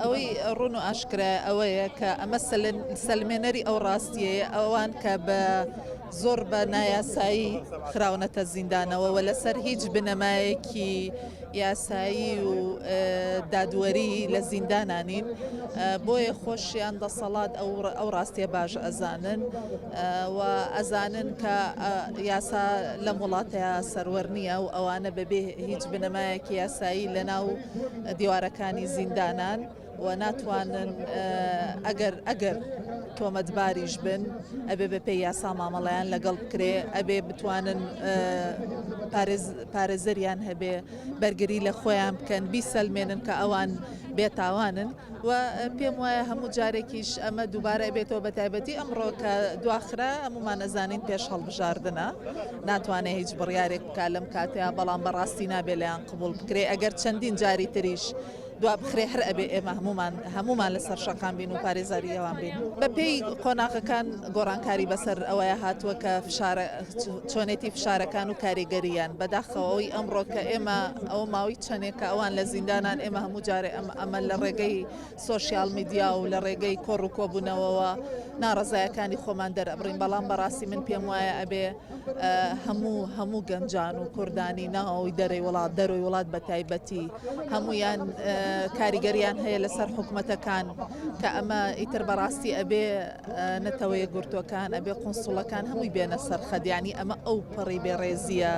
ئەوەی ڕون و ئاشکرا ئەوەیە کە ئەمە سەلمێنەری ئەو ڕاستیەیە ئەوان کە بە زۆر بە نایاسایی خراونەتە زیندانەوە و لەسەر هیچ بنەمایەکی یاسایی و دادوەری لە زیندانانین بۆیە خۆشیان دەسەڵات ئەو ڕاستیە باش ئەزانن و ئەزانن کە یاسا لەم وڵاتەیا سەروەر نییە و ئەوانە بەبێ هیچ بنەمایەکی یاسایی لەناو دیوارەکانی زیندانان و ناتوانن ئەگەر ئەگەر تۆمەتباریش بن ئەبێ بە پێی یاسا مامەڵیان لەگەڵ بکرێ ئەبێ بتوانن پارێزەریان هەبێ بەرگری لە خۆیان بکەن بیسەلمێنن کە ئەوان بێتاوانن. و پێم وایە هەموو جارێکیش ئەمە دووبارە ئەبێتەوە بە تایبەتی ئەمڕۆ کە دواخرا هەمومان ئەزانین پێش هەڵبژاردنە ناتوانێت هیچ بڕیارێک بکە لەم کاتەیە بەڵام بەڕاستی نابێ لەیان قبول بکرێ ئەگەر چەندین جاری تریش دوا بخرێ هەر ئەبێ ئێمە هەمومان هەمومان لەسەر شەقام بین و پارێزاری ئەوان بین بە پێی قۆناغەکان گۆڕانکاری بەسەر ئەوەیە هاتووە کە فشارە چۆنێتی فشارەکان و کاریگەریان بەداخەوەی ئەمڕۆ کە ئێمە ئەو ماوەی چەندێک کە ئەوان لە زیندانان ئێمە هەموو جارێ ئەم ئەمە لە ڕێگەی سۆشیال میدیا و لە ڕێگەی کۆڕ و کۆبوونەوەوە ناڕەزایەکانی خۆمان دەرەبڕین بەڵام بەڕاستی من پێم وایە ئەبێ هەموو هەموو گەنجان و کوردانی ناوەوەی دەرەی وڵات دەروی وڵات بە تایبەتی هەمویان کاریگەریان هەیە لەسەر حکوومەتەکان کە ئەمە ئیتر بەڕاستی ئەبێ نەتەوەیە گرتوەکان ئەبێ قنسوڵەکان هەمووی بێنە سەرخەدیانی ئەمە ئەو پەڕی بێڕێزیە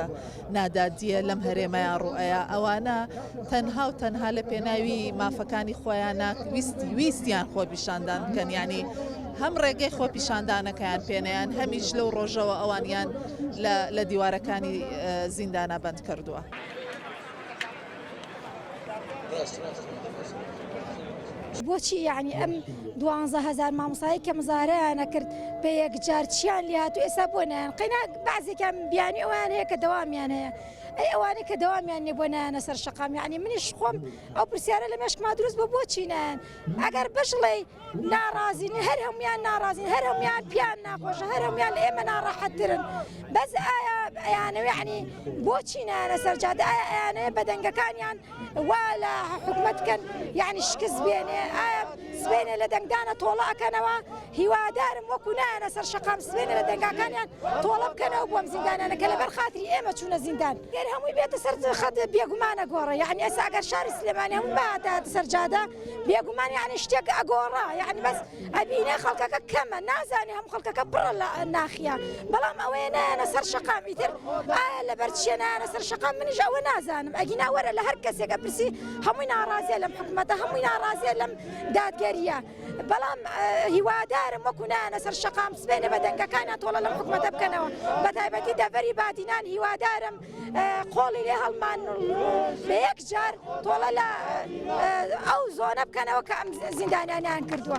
نادادیە لەم هەرێمەیا ڕوئەیا ئەوانە تەنها و تەنها لە پێناوی مافەکانی خۆیانە ویستی ویستیان خۆ پیشاندان بکەن ینی هەم ڕێگەی خۆ پیشاندانەکەیان پێنیان هەمیش لەو ڕۆژەوە ئەوانیان لە دیوارەکانی زیندانە بەند کردووە. بۆچی یعنی ئەم دوانزە هزار مامۆسایی کە مزارەیانە کرد بە یەکجار چیان لات و ئێستا بۆ نیان قەینا بازێکیان بیانی ئەویان هەیە کە دەوامیان هەیە ئەی ئەوانەی کە دەوامیان نیە بۆ نایانە سەر شقام یعنی منیش خۆم ئەو پرسیارە لە مێشکما دروست بۆ بۆچینیان ئەگەر بشڵێ ناڕازین هەر هەموان ناڕازین هەر هەموان پیان ناخۆشە هەر هەموان لە ئێمە ناڕەحەتترن بەس ئایا ئەیانەوێعنی بۆچی نانە سەرجادە ئایا ئەیانەیە بەدەنگەکانیان وا لە حکومت کەن یعنی شکست بێنێ ئایا سبێنێ لە دەنگدانە تۆڵە ئەکەنەوە هیوادارم وەکو نایەنە سەر شقام سبێنێ لە دەنگاکانیان تۆڵە بکەنەوە بۆم زیندانانە کە لەبەر خاتری ئێمە چوونە زیندان گەر هەمووی بێتە سەر خەت بێگومانە گۆڕە یعنی ئەسا ئەگەر شاری سلێمانی هەموو باتە سەرجادە بێگومان یعنی شتێک ئەگۆڕا یعنی بەس ئەبینێ خەڵکەکە کەمە نازانێ هەم خەڵکەکە بڕە لە ناخیا بەڵام ئەوەیە نایەنە سەر شقامی تر ئایا لەبەر چێنانە سەر شقام منیش ئەوە نازانم ئەگینا وەرە لە هەر کەسێکە پرسی هەمووی ناڕازیە لەم حکوومەتە هەمووی ناڕازیە لەم دادگەریە بەڵام هیوادارم وەکو نایەنە سەر شقام سبێنە بە دەنگەکانە تۆڵە لەم حکوومەتە بکەنەوە بە تایبەتی دەبەری بادینان هیوادارم قۆڵی لێ هەڵمان بە یەک جار تۆڵە لە ئەو زۆنە بکەنەوە کە ئەم زیندانیانیان کردووە.